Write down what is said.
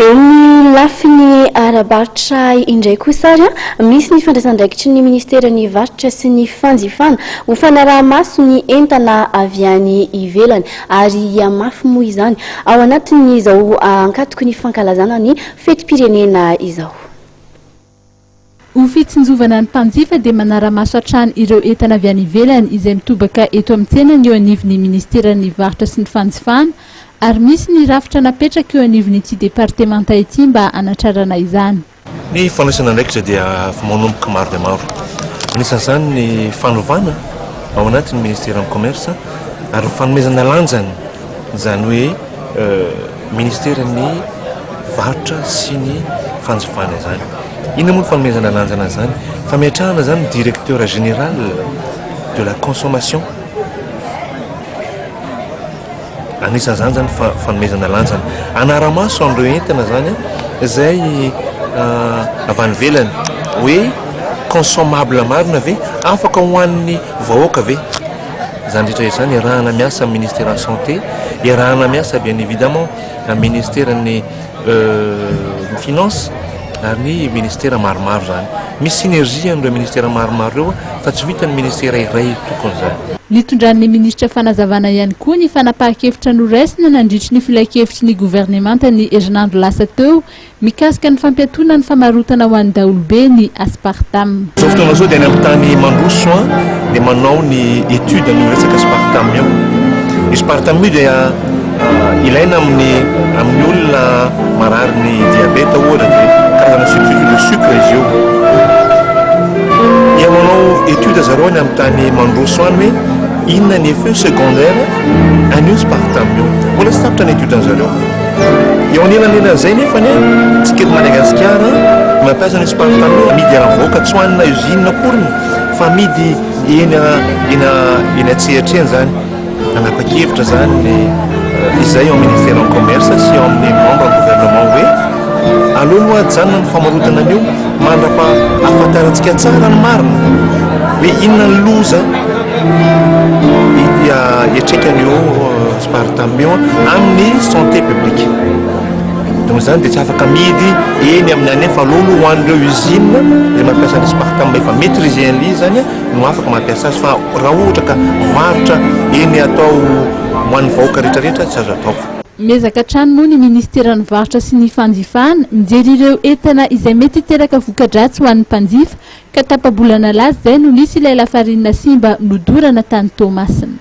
Eo amin'ny lafiny ara-barotra indray kosa ary, misy ny fandraisan-draikitry ny Ministeran'ny Varotra sy ny Fanjifana ho fanaraha-maso ny entana avy any ivelany ary hihamafy moa izany ao anatin'izao ankatoky ny fankalazana ny fetim-pirenena izao. Ho fitsinjovana ny mpanjifa dia manara-maso hatrany ireo entana avy any ivelany izay mitobaka eto amin'ny tsenany eo anivon'ny Minisiteran'ny Varotra sy ny Fanjifana ary misy ny rafitra napetraka eo anivon'ity departemanta ity mba hanatrarana izany. Ny fandraisana andraikitra dia vao manomboka maro dia maro. Anisan'izany ny fanovana ao anatin'ny Minisiteran'ny Commerce ary ny fanomezana lanjany izany hoe Ministeran'ny varotra sy ny fanjifana izany. Inona moa ny fanomezana lanjana an'izany? Fametrahana izany ny directeur général de la consommation. Anisan'izany izany fa fanomezana lanjana. Anara-maso an'ireo entana izany izay avy any ivelany hoe consommable marina ve? Afaka ho an'ny vahoaka ve? Izany rehetra izany iarahana miasa amin'ny Ministeran'ny Santé, iarahana miasa bien évidemment amin'ny Ministeran'ny euh, Finances ary ny ministera maromaro izany. Misy synergie amin'ireo ministera maromaro ireo fa tsy vitan'ny ministera iray tokony izany. Nitondran'ny minisitra fanazavana ihany koa ny fanapahan-kevitra noraisina nandritry ny filankevitry ny governemanta ny herinandro lasa teo Mikasika ny fampiatoana ny famarotana ho an'ny daholobe ny aspartame. Zao fotoana zao dia any amin'ny tany mandroso an dia manao ny étude ny resaka aspartame io. Io aspartame io dia ilaina amin'ny amin'ny olona marary ny diabeta ohatra dia karazana substitut de sucre izy io. Dia manao étude zareo any amin'ny tany mandroso any hoe inona ny effet secondaire an'io aspartame io. Mbola tsy tapitra ny étude an'zareo. Eo anelanelan'izay nefa ny tsika eto Madagasikara mampiasa ny spartano amidy ara-vahoaka tsy ho an'ilay usine akoriny fa amidy eny eny eny an-tsehatra eny izany. Nanapa-kevitra izany ny izay ao ministeran'ny commerce sy ao amin'ny membre gouvernement hoe aleo aloha ajanona ny famarotana an'io mandrapa ahafantarantsika tsara ny marina hoe inona ny loza iatraika an'io Aspartamion amin'ny santé publique. Donc izany dia tsy afaka amidy eny amin'ny any fa aleo aloha ho an'ireo usine izay mampiasa ny aspartame efa maitriser an'ilay izy izany no afaka mampiasa azy fa raha ohatra ka varotra eny atao ho an'ny vahoaka rehetrarehetra tsy azo atao. Miezaka hatrany moa ny Ministeran'ny Varotra sy ny Fanjifana mijery ireo entana izay mety hiteraka voka-dratsy ho an'ny mpanjifa ka tapa-bolana lasa izay no nisy ilay lafarinina simba nodorana tany Toamasina.